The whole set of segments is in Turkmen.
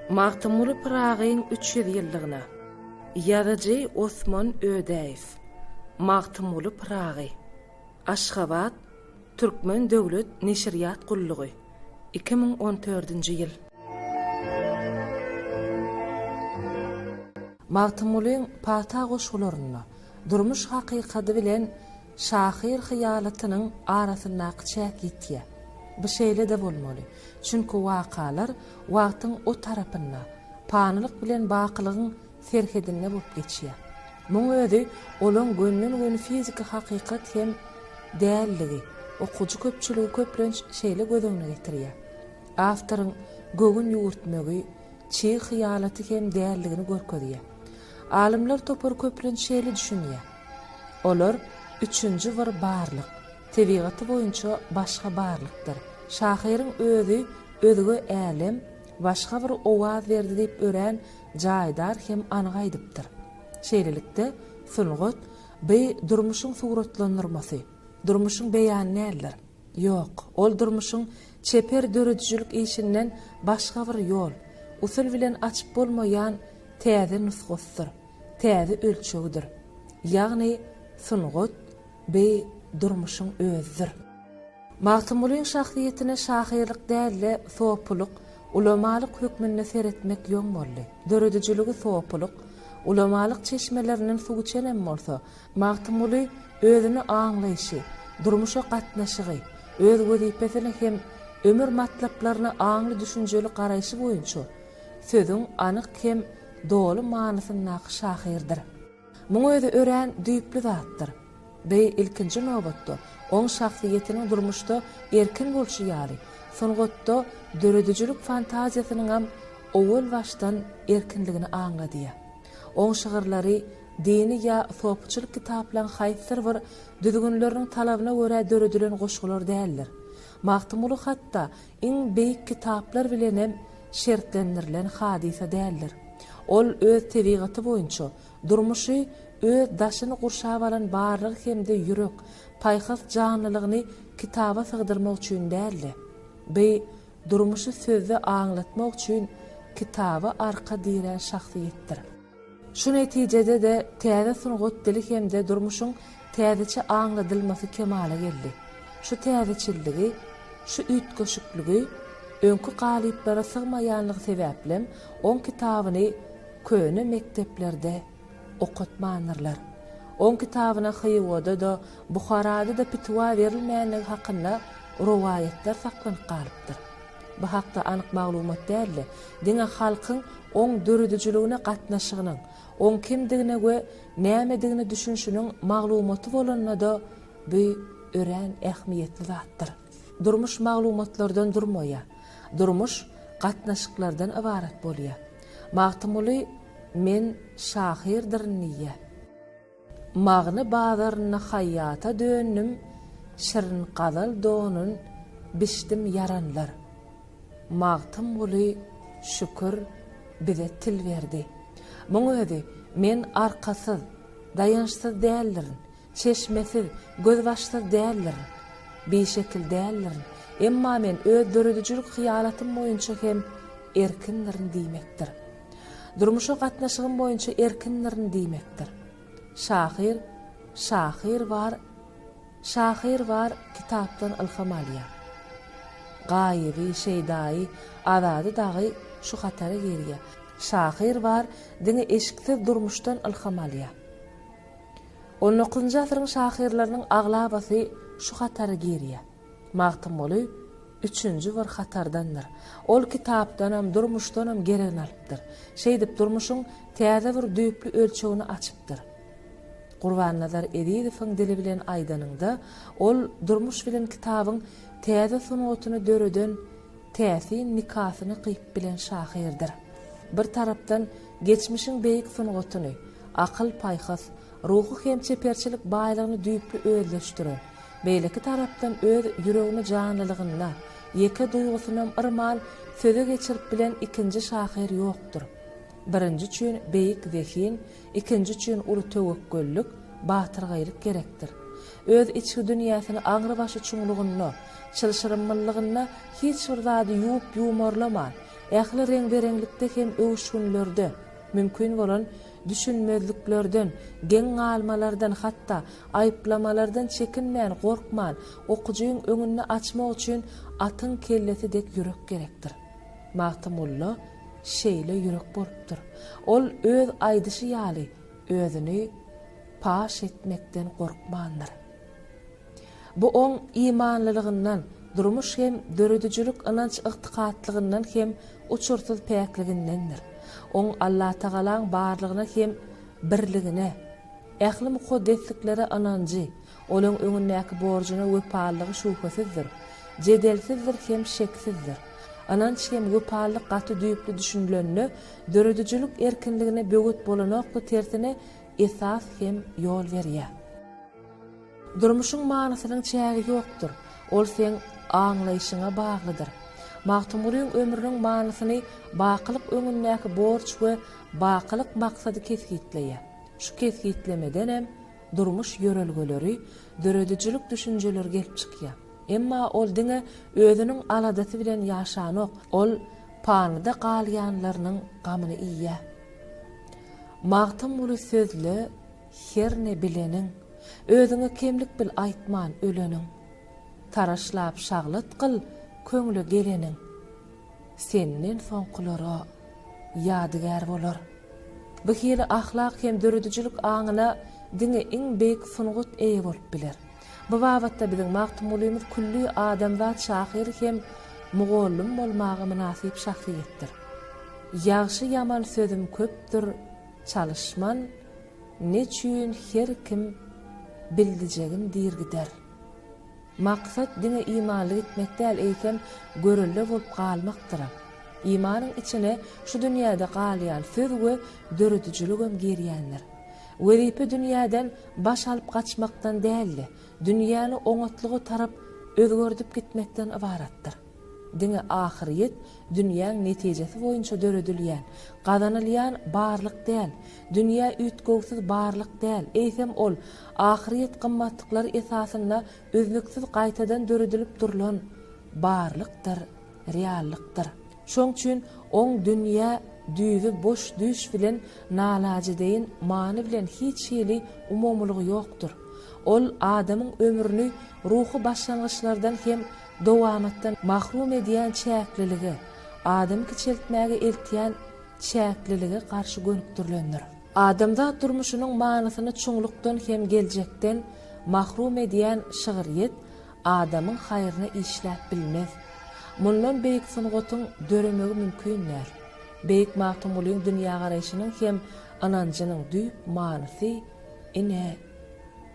Magtymguly Pyragyň üç ýüz ýyllygyna ýazyjy Osman Ödäýew Magtymguly Pyragy, Aşgabat, Türkmen döwlet neşirýat gullugy, iki müň on dördünji ýyl. Magtymgulyň pata goşgularynda durmuş hakykady bilen Şahyr hyýalatynyň arasyndaky çäk ýitýä. Bu şeýle-de bolmaly. Çünki wakalar wagtyň o tarapynda, panylyk bilen bakylygyň serhedinde bolup geçýä. Muň özi olaň gönden-göni fiziki hakykat hem däldigi, okyjy köpçüligi köplenç şeýle göz öňüne getirýä. Awtoryň göwün ýüwürtmegi, çig hyýalaty hem däldigini görkezýä. Alymlar topary köplenç şeýle düşünýä. Olar üçünji bir barlyk, tebigaty boýunça başga barlykdyr. Şahyryň özi özge älem, başga bir owaz berdi diýip örän jaýdar hem anyk aýdypdyr. Şeýlelikde, sungat, by durmuşyň suratlandyrmasy, durmuşyň beýany däldir. Ýok, ol durmuşyň çeper döredijilik işinden başga bir ýol, usul bilen açyp bolmaýan täze nusgasydyr. täze ölçegidir. Ýagny sungat, beý, durmuşyň özüdir. Magtymgulyň şahsyýetine şahyrlyk däl-de sopulyk, ulamalyk hökmünde seretmek ýoň boldy. Döredijiligi sopulyk, ulamalyk çeşmelerinden suw içenem bolsa, Magtymguly özüni aňlaýşy, durmuşa gatnaşygy, öz wezipesine hem ömür matlaplaryna aňly-düşünjeli garaýşy boýunça sözüň anyk hem doly manysyndaky şahyrdyr. Muň özi örän düýpli zatdyr. Bi, ilkinji nobatda, oň şahsyýetiniň durmuşda erkin bolşy ýaly, sungatda döredijilik fantaziýasynyňam owal başdan erkinligini aňladýar. Oň şygyrlary dini ýa sopuçylyk kitaplaň haýsydyr bir düzgünleriniň talabyna görä döredilen goşgular däldir. Magtymguly hatda iň beýik kitaplar bilenem şertlendirilen hadysa däldir. Ol öz tebigaty boýunça, durmuşy öz daşyny gurşap alan barlygy hem-de ýürek, paýhas janlylygyny kitaba sygdyrmak üçin däl-de, by durmuşy sözde aňlatmak üçin kitaba arka dirän şahsyýetdir. Şu netijede-de täze sungat dili hem-de durmuşyň täzeçe aňladylmasy kemala geldi. Şu täzeçilligi, şu üýtgeşikligi, öňki galyplara sygmaýanlygy sebäplem oň kitabyny köne mekdeplerde okatmandyrlar. Oň kitabyna Hywa-da-da, Buharada-da pitwa berilmänligi hakynda rowaýatlar saklanyp galypdyr. Bu hakda anyk maglumat däldi. Diňe halkyň oň döredijiligine gatnaşygynyň, oň kimdigine we nämedigine düşünişiniň maglumaty bolanda-da bu örän ähmiýetli zatdyr. Durmuş maglumatlardan durmaýa. Durmuş gatnaşyklardan ybarat bolýa. Magtymguly Men şahyrdyryn diýýä. Magny bazarynda haýýata döndüm Şirin gazal donun biçdim ýaranlar. Magtymguly şükür bize til berdi. Muň özi men arkasyz, daýançsyz däldirin, çeşmesiz, gözbaşsyz däldirin, bişekil däldirin, emma men öz döredijilik hyýalatym boýunça hem erkindirin diýmekdir. Durmuşa gatnaşygym boýunça erkindirin diýmekdir. Şahyr Şahyr bar Şahyr bar kitapdan ylham alýar. Gaýyby, Şeýdaýy, Azady dagy şu hatara girýär. Şahyr bar diňe eşiksiz durmuşdan ylham alýar. On dokuzynjy asyryň şahyrlarynyň aglabasy şu hatara girýär. Magtymguly üçünji bir hatardandyr. Ol kitapdanam, durmuşdanam geregini alypdyr. Şeýdip, durmuşyň täze bir düýpli ölçegini açypdyr. Gurbannazar Ezizowyň dili bilen aýdanyňda, ol durmuş bilen kitabyň täze sungatyny döreden täsin nikasyny gyýyp bilen şahyrdyr. Bir tarapdan geçmişiň beýik sungatyny, akyl-paýhas, ruhy hem çeperçilik baýlygyny düýpli özleşdiren, Beýleki tarapdan öz ýüregini janlylygynda, ýeke duýgusynam yrman söze geçirip bilen ikinji şahyr ýokdur. Birinji üçin beýik zehin, ikinji üçin uly töwekgellik, batyrgaýlyk gerekdir. Öz içki dünýäsini aňrybaşy çuňlugynda, çylşyrymlylygynda hiç bir zady ýuwup-ýuwmarlaman, ähli reň-bereňlikde hem öwüşginlerde, mümkin bolan düşünmezliklerden, geň galmalardan hatda Aýyplamalardan çekinmän, gorkman, okyjyň öňünde açmak üçin atyň kellesi dek ýürek gerekdir. Magtymgulla şeýle ýürek bolupdyr. Ol öz aýdyşy ýaly, özüni paş etmekden gorkmandyr. Bu oň imanlylygyndan, durmuş hem döredijilik ynanç-ygtykatlygyndan hem uçursyz päkligindendir. Oň Allatagalaň barlygyna hem birligine. Ähli mukaddesliklere ynanjy, olaň öňündäki borjuna wepalylygy şübhesizdir, jedelsizdir hem şeksizdir. Ynanç hem wepalylyk gaty düýpli düşünilende, döredijilik erkinligine böwet bolanokdy, tersine, esas hem ýol berýär. Durmuşyň manysynyň çägi ýokdur, ol seň aňlaýşyňa baglydyr. Magtymgulyň ömrüniň manysyny bakylyk öňündäki borç we bakylyk maksady kesgitleýär. Şu kesgitlemedenem durmuş ýörelgeleri, döredijilik düşünjeleri gelip çykýar. Emma ol diňe özüniň aladasy bilen ýaşanok, ol panyda galýanlarynyň gamyny iýýär. Magtymguly sözle herne bileniň, özüňe kemlik bil aýtman öleniň. Taraşlap şaglat gyl köňle geleniň. Senden soňkulara ýadygär bolar. Bu hili ahlak hem döredijilik aňyna diňe iň beýik sungat eýe bolup biler. Bu babatda biziň Magtymgulymyz külli adamzat şahyr hem mugallym bolmaga mynasyp şahsyýetdir. Ýagşy-ýaman sözüm köpdür, çalyşman, neçün her kim bildijegin diýr gider. Maksat diňe imanly gitmek däl, eýsem, görelde bolup galmakdyr. Imanyň içine şu dünýäde galýan söz we döredijiligem girýändir. Wezipe dünýäden baş alyp gaçmakdan däl-de, dünýäni oňatlyga tarap özgerdip gitmekden ybaratdyr. Diňe ahyryýet dünýäň netijesi boýunça döredilýän, gazanylýan barlyk däl. Dünýä üýtgewsiz barlyk däl, eýsem ol ahyryýet gymmatlyklary esasynda üznüksiz gaýtadan döredilip durlan barlykdyr, reallykdyr. Şoň üçin oň dünýä düýbi boş düýş bilen nalajy deýin many bilen hiç hili umumylygy ýokdur. Ol adamyň ömrüni ruhy başlangyçlardan hem Dowamatdan mahrum edýän çäklilige, adamy kiçeltmäge eltýän çäklilige garşy gönükdirilendir. Adamzat durmuşynyň manysyny çuňlukdan hem geljekden mahrum edýän şygryýet adamyň haýryna işläp bilmez. Mundan beýik sungatyň döremegi mümkin däl. Beýik Magtymgulyň dünýägaraýşynyň hem ynanjynyň düýp manysy, ine,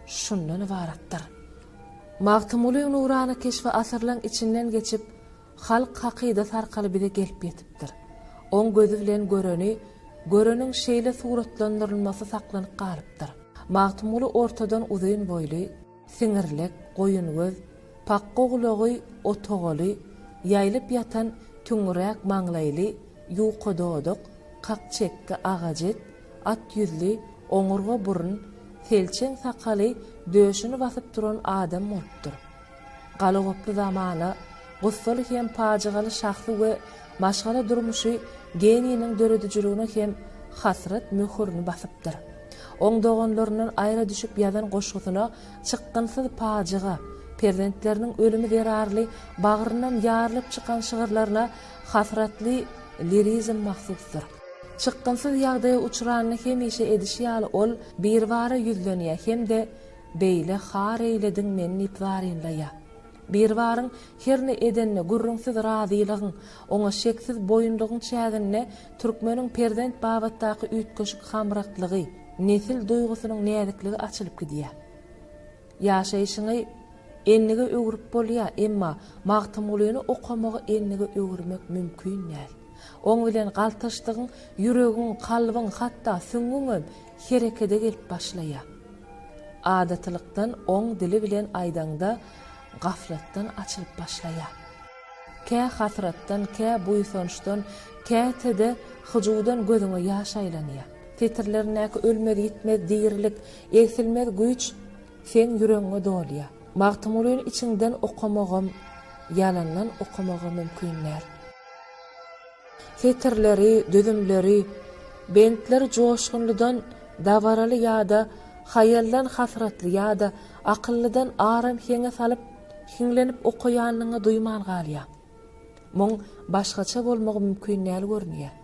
şundan ybaratdyr. Magtymgulyň nurana keşbi asyrlaň içinden geçip, halk hakydasy arkaly bize gelip ýetipdir. Oň gözi bilen göreni, göreniň şeýle suratlandyrylmasy saklanyp galypdyr. Magtymguly ortadan uzyn boýly, siňirlek, goýun göz, pakga gulagy, otogaly, ýaýylyp ýatan, tüňňüräk maňlaýly, ýuka dodak, kak çekgi, agajet, At ýüzli, oňurga burun, selçeň sakaly döşüni basyp duran adam bolupdyr. Galagoply zamana, gussaly hem pajygaly şahsy we maşgala durmuşy geniýiniň döredijiligine hem hasrat möhürini basypdyr. Oň doganlaryndan aýra düşüp ýazan goşgusyna Çykgynsyz pajyga, Perzentleriniň ölümi zerarly bagryndan ýarylyp çykan şygyrlaryna hasratly lirizm mahsusdyr. Çykgynsyz ýagdaýa uçranda hemişe edişi ýaly ol Birbara ýüzlenýär hem-de Beýle har eýlediň meni diýip zarynlaýar. Birbaryň herne edenine gürrüňsiz razylygyň, oňa şeksiz boýundygyň çäginde türkmeniň perzent babatdaky üýtgeşik hamraklygy, nesil duýgusynyň näzikligi açylyp gidýär. Ýaşaýşyňy enlige öwrüp bolýar, emma Magtymgulyny okamagy enlige öwürmek mümkin däl. Oň bilen galtaşdygyň ýüregiň, kalbyň, hatda süňňüňem herekede gelip başlaýar. Adatylykdan oň dili bilen aýdaňda gaflatdan açylyp başlaýar. Kä hasratdan, kä buýsançdan, käte-de hyjuwdan gözüňe ýaş aýlanýar. Setirlerindäki ölmez-ýitmez dirilik, Egsilmez güýç seň ýüregiňe dolýa. Magtymgulyny içiňden okamagam, ýalandan okamaga mümkin däl. Setirleri, düzümleri, bentleri joşgunlydan dabaraly ýa-da haýaldan hasratly ýa-da akyllydan aram heňe salyp, hiňlenip okaýanyňy duýman galýaň. Muň başgaça bolmagy mümkin däl görünýär.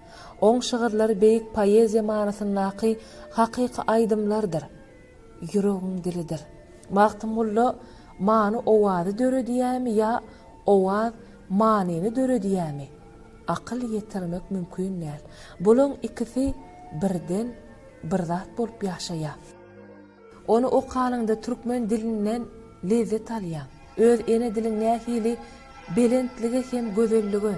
Oň şygyrlary beýik poeziýa manysyndaky hakyky aýdymlardyr. Ýüregiň dilidir. Magtymgulla many owazy döredýärmi ýa owaz manyny döredýärmi, akyl ýetirmek mümkin däl. Bulaň ikisi birden bir zat bolup ýaşaýar. Ony okanyňda türkmen dilinden lezzet alýaň. Öz ene diliň nähili belentlige hem gözellige,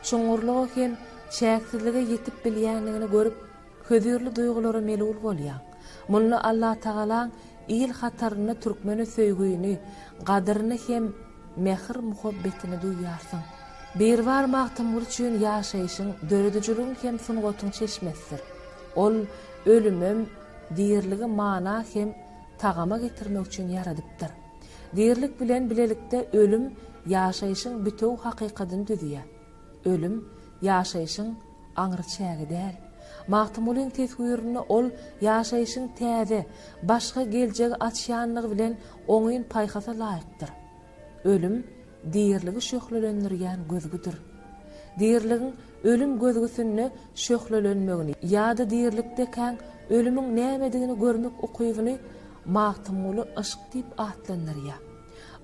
çuňňurlyga hem çäksizlige ýetip bilýändigini görüp, hözirli duýgulara melul bolýaň. Munda Allatagalaň il hatarynda türkmene söýgini, gadyryny hem mähir-muhabbetini duýýarsyň. Biribar Magtymguly üçin ýaşaýşyň, döredijiligiň hem sungatyň çeşmesidir. Ol ölümem. Diriligi mana hem tagama getirmek üçin ýaradypdyr. Dirilik bilen bilelikde ölüm ýaşaýşyň bitewi hakykadyny düzýär. Ölüm, ýaşaýşyň aňry çägi däl. Magtymgulyň teswirinde ol ýaşaýşyň täze, başga geljegi açýanlygy bilen oňyn paýhasa laýykdyr. Ölüm diriligi şöhlelendirýän gözgüdir. Diriligiň ölüm gözgüsinde şöhlelenmegini ýa-da dirilikdekäň ölümiň nämedigini görmek ukybyny Magtymguly yşk diýip atlandyrýar.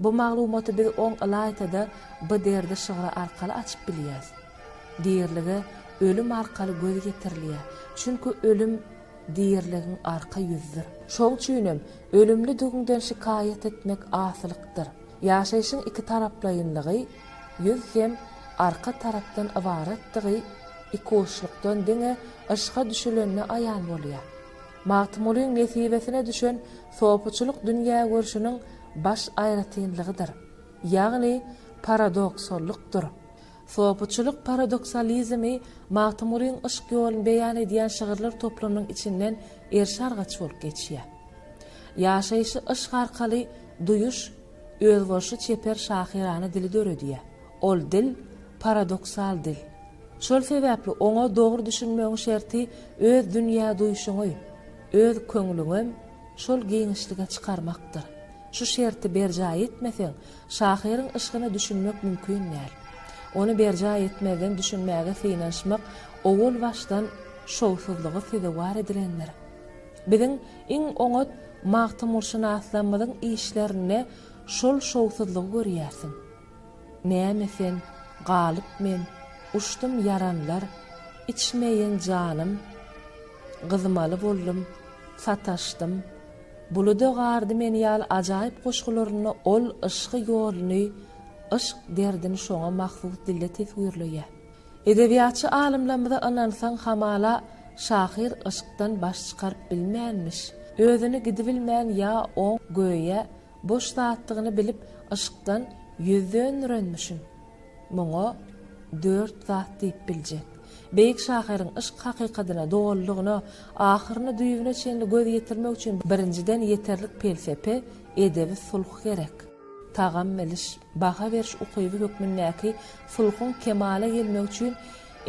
Bu maglumaty biz oň ylaýta-da bu derdi şygry arkaly açyp bilýäris. Dirilige ölüm arkaly göz ýetirilýär, çünki ölüm Diriligiň arka ýüzüdir. Şoň üçinem, ölümlidigiňden şikaýat etmek asylykdyr. Ýaşaýşyň ikitaraplaýynlygy, ýüz hem arka tarapdan ybaratdygy ikuçlukdan diňe yşka düşülende aýan bolýar. Magtymgulyň nesibesine düşen sopuçylyk dünýägörşüniň baş aýratynlygydyr, ýagny paradoksallykdyr. Sopuçylyk paradoksalizmi Magtymgulyň yşk ýoluny beýan edýän şygyrlar toplumynyň içinden erşargaç bolup geçýär. Ýaşaýşy yşk arkaly duýuş özboluşly çeper şahyrana dili döredýär. Ol dil, paradoksal dil. Şol sebäpli oňa dogry düşünmegiň şerti öz dünýäduýuşyňy, öz köňlüňem şol giňişlige çykarmakdyr. Şu şerti berjaý etmeseň, Şahyryň yşkyna düşünmek mümkin däl. Ony berjaý etmezden düşünmäge synanyşmak owal-başdan şowsuzlyga sezewar edilendir. Biziň iň oňat magtymgulşynaslarymyzyň işlerinde şol şowsuzlygy görýärsiň. Näme sen, galyp men, uçdum ýaranlar, içmeýin janym, gyzmaly boldum, sataşdym, Buluda gardy meni ýaly ajaýyp goşgularynda ol yşky ýoluny, yşk derdini şoňa mahsus dilde teswirleýär. Edebiýatçy alymlarymyza ynansaň hamala şahyr yşkdan baş çykaryp bilmänmiş, özüni gidibilmän ýa oň, göýä, boş zatdygyny bilip yşkdan ýüz döndürenmişin. Muňa dört zat diýip biljek. Beýik şahyryň yşk hakykatyna dolulygyna, ahyryna-düýbüne çenli göz ýetirmek üçin birinjiden ýeterlik pelsepe, edebi sulh gerek. Tagam biliş, baha beriş ukyby hökmündäki sulhuň kemala gelmegi üçin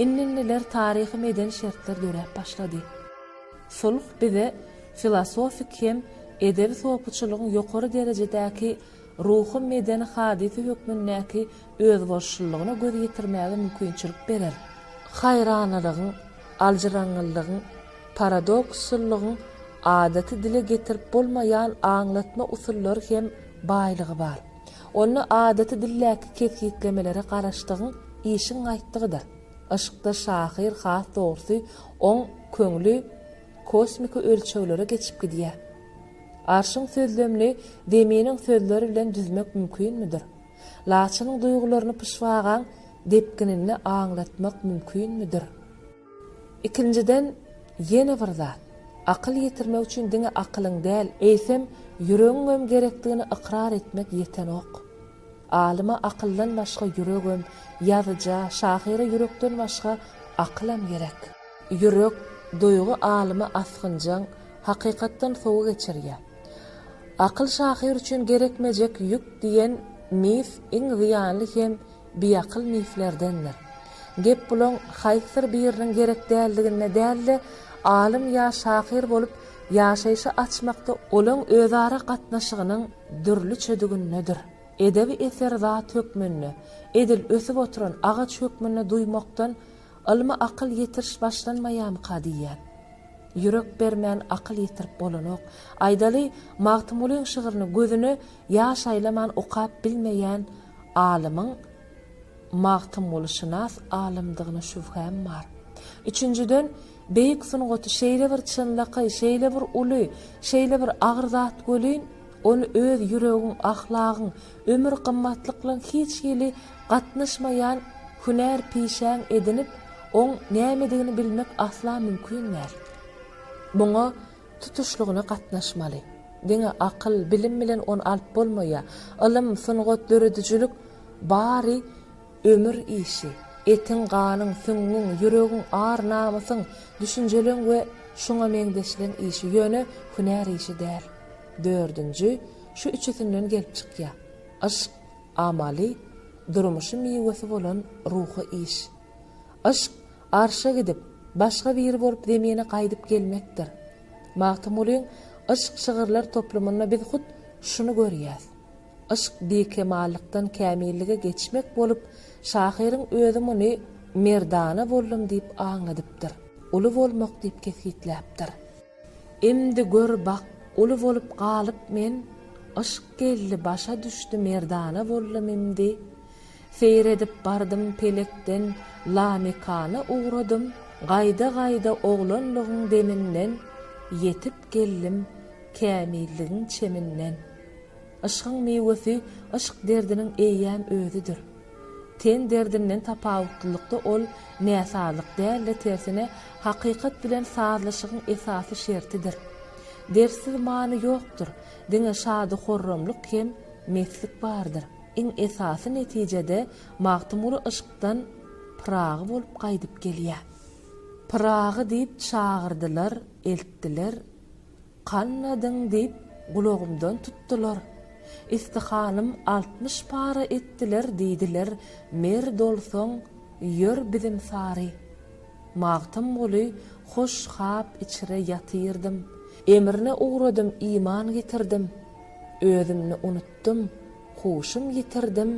indi-indiler taryhy-medeni şertler döräp başlady. Sulh bize filosofik hem edebi sopuçylygyň ýokary derejedäki ruhy medeni hadysy hökmündäki özboluşlylygyna göz ýetirmäge mümkinçilik berer. Haýranalygyň, aljyraňňylygyň, paradokslylygyň adaty dile getirip bolmaýan aňlatma usullary hem baýlygy bar. Onda adaty dildäki kesgitlemelere garaşdygyň işiň gaýtdygydyr. Yşkda şahyr has dogrusy oň köňli. kosmiki ölçeglere geçip gidýär. Arşyň sözlemini Zeminiň sözleri bilen düzmek mümkinmidir? Laçynyň duýgularyny pyşbagaň depgininde aňlatmak mümkinmidir? Ikinjiden, ýene bir zat, akyl ýetirmek üçin diňe akylyň däl, eýsem, ýüregiňem gerekdigini ykrar etmek ýetenok. Alyma akyldan başga ýüregem, ýazyja, şahyra ýürekden başga akylam gerek. Ýürek, duýgy alymy asgynjaň, hakykatdan sowa geçirýär. Akyl şahyr üçin gerekmejek ýük diýen mif iň zyýanly hem biakyl miflerdendir. Gep bulaň haýsydyr biriniň gerek däldiginde däl-de, alym ýa şahyr bolup ýaşaýşy açmakda olaň özara gatnaşygynyň, dürlüçedigindedir. Edebi eser zat hökmünde, edil ösüp oturan agaç hökmünde duýmakdan ylmy akyl ýetiriş başlanmaýamyka diýýän. Ýürek bermän akyl ýetirip bolanok. Aýdaly, Magtymgulyň şygryny gözüne ýaş aýlaman okap bilmeýän alymyň Magtymgulyşynas alymdygyna şübhäm bar. Üçünjiden, Beýik sungaty şeýle bir çynlakaý, şeýle bir uly, şeýle bir agyr zat welin, ony öz ýüregiň, ahlagyň, ömür gymmatlyklaň hiç hili gatnaşmaýan hünär pişäň edinip, oň nämedigini bilmek asla mümkin däl. Muňa tutuşlygyna gatnaşmaly. Diňe akyl, bilim bilen ony alyp bolmaýar. Ylym, sungat, döredijilik bary Ömür işi, etiň, ganyň, süňňüň, ýüregiň, ar, namysyň, düşünjeleň we şuňa meňzeşleň işi, ýöne hünär işi däl. Dördünji, şu üçüsinden gelip çykýar. Yşk, amaly, durmuşy miwesi bolan ruhy iş. Yşk, arşa gidip, başga biri bolup zemine gaýdyp gelmekdir. Magtymgulyň Yşk şygyrlar toplumynda biz hut şuny görýäs. Yşk bikemallykdan kämillige geçmek bolup, şahyryň özi muny merdana boldum diýip aňladypdyr, uly bolmak diýip kesgitläpdir. Imdi gör bak, uly bolup galyp men, Yşk geldi başa düşdi merdana boldum imdi. Seýredip bardym pelekden lamekana ugradym, Gaýda-gaýda oglanlygyň deminden, Ýetip geldim kämilligiň çeminden. Yşkyň miwesi yşk derdiniň eýýäm özüdir. Ten derdinden tapawutlylykda ol näsazlyk däl-de tersine hakykat bilen sazlaşygyň esasy şertidir. Dertsiz many ýokdur, diňe şady-horramlyk hem meslik bardyr. Iň esasy netijede Magtymguly yşkdan Pyragy bolup gaýdyp gelýär. Pyragy diýip çagyrdylar, eltdiler, Kanmadyň diýip gulagymdan tutdular. Ystyhanym altmyş para etdiler diýdiler Mer dolsaň ýör bizim sary. Magtymguly hoş hap içre ýatyrdym. Emrine ugradym iman getirdim Özümni unutdym huşum ýitirdim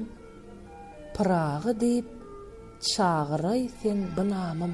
Pyragy diýip çagyraý sen bynamym.